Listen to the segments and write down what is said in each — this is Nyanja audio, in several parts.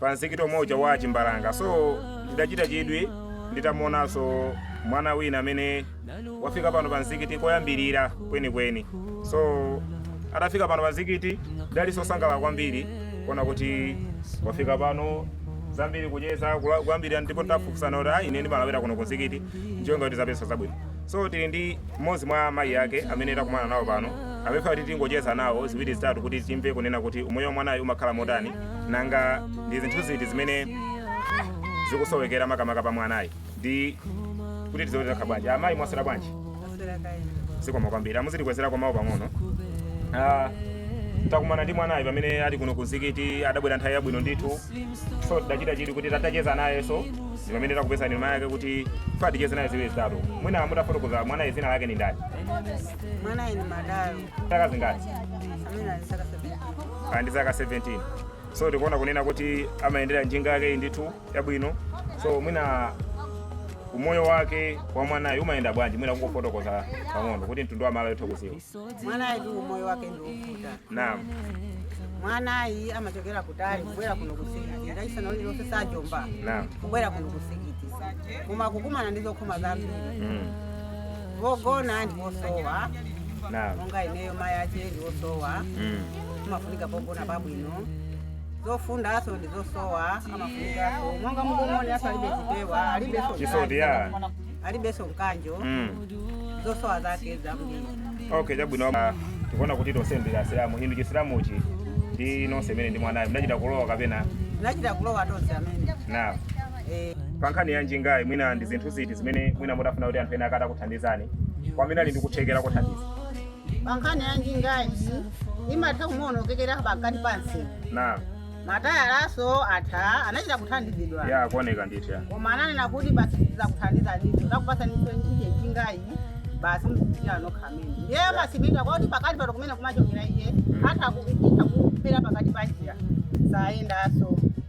pa msikiti omwe uja wa Chimbalanga. So tidachita chidwi titamuonanso mwana wina amene wafika pano pa msikiti koyambirira kwenikweni. So atafika pano pa msikiti tidali osangalala kwambiri kuona kuti wafika pano tayamba kucheza kwambiri ndipo tafunsana kuti ayi ine ndimalawira kuno ku msikiti cholinga kuti ndizapeze zabwino. So tili ndi mmodzi mwa mayi ake amene takumana nawo pano amene kuti tingocheza nawo ziwiri zitatu kuti timve kunena kuti umoyo wa mwanayo umakhala motani nanga ndi zinthu ziti zimene zikusowekera makamaka pa mwanayi ndi kuti tizitani bwanji amayi mwaswera bwanji zikomo kwambiri muzitikwezerako mawu pang'ono Ah, takumana ndi mwanayi pamene ali kuno ku mzikiti adabwera nthawi yabwino ndithu so tidachita chidwi kuti tatacheza nayenso ndi pamene tapezana ndi mayi ake kuti ticheze naye ziwiri zitatu mwina mutafotokoza mwanayi dzina lake ndi ndani Mwanayi ndi Madalo zaka zingati ali ndi zaka ali ndi zaka 17 so tikuona kunena kuti amayendera njinga yakeyi ndithu yabwino so mwina umoyo wake wa mwanayi umayenda bwanji mwina kungofotokoza pang'ono kuti mtundu wa Malawi uthe kudziwa mwanayi ndi umoyo wake ndi wovuta naam mwanayi amachokera kutali kubwera kuno ku msikiti Lachisanu lililonse za Juma naam kubwera kuno ku msikiti koma akukumana ndi zokhoma zambiri mm. pogona ndi posowa Naam. monga ineyo mayi ache ndi osowa Mm. amafunika pogona pabwino zofundaso ndi zosowa amafunikaso monga mukumuoneramo alibe zipewa alibeso Chisoti ya. alibeso mkanjo Mm. zosowa zake zambiri Okay, chabwino. Ah, Tikuona kuti tonse ndi Asilamu. Inu Chisilamuchi ndi nonse imene ndi mwanayi. Munachita kulowa kapena? tinachita kulowa tonse ameneyu Naam. Pa nkhani ya njingayi, mwina ndi zinthu ziti zimene mwina mutafuna kuti anthu ena atakuthandizani kwa amene ali ndi kuthekera kothandiza? Pa nkhani ya njingayi imatha kumaonongekera pakati pa msewu. Naam Matayalanso atha anachita kuthandizidwa. ya kuoneka ndithu ya. Koma ananena kuti basi tidzakuthandiza ndithu takupatsaninso njingayi basi muzichitira nokha amene. Ndiye timasimidwa kwakuti pakati pato kumene kumachokera imatha kuchita kuphera pakati pa njira siyendanso.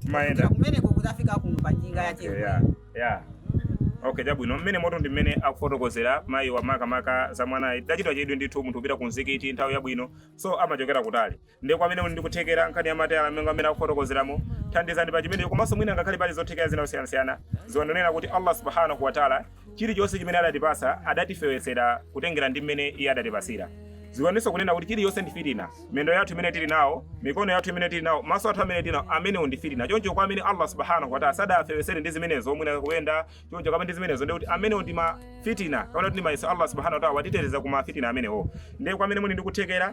timayenda kumeneko kudzafika kuno pa njinga ya Okay, yeah, yeah. okay chabwino mmenemotu ndi mmene akufotokozera mayi wa makamaka za mwanayi tachita chidwi ndithu munthu kupita ku mzikiti nthawi yabwino so amachokera kutali ndiye kwa amene muli ndi kuthekera nkhani ya matayala mmene akufotokozeramo thandizani pa chimenecho komanso mwina ngakhale pali zothekera zina zosiyanasiyana dziwani kunena kuti allah subhanahu wataala Chilichonse chimene adatipatsa, adatifewetsera kutengera ndi m'mene Iye adatipatsira. Dziwaninso kunena kuti chilichonse ndi fitna. Mendo yathu imene tili nawo, mikono yathu imene tili nawo, maso athu amene tili nawo, amenewo ndi fitna. Choncho kwa amene Allah Subhaanahu wa Ta'aala sadawafewetsere ndi zimenezo, mwina kuyenda, choncho kapena ndi zimenezo, ndiye kuti amenewo ndi ma fitna, kapena kuti ndi mayeso Allah Subhaanahu wa Ta'aala watiteteza ku ma fitna amenewo. Ndiye kwa amene muli ndi kuthekera,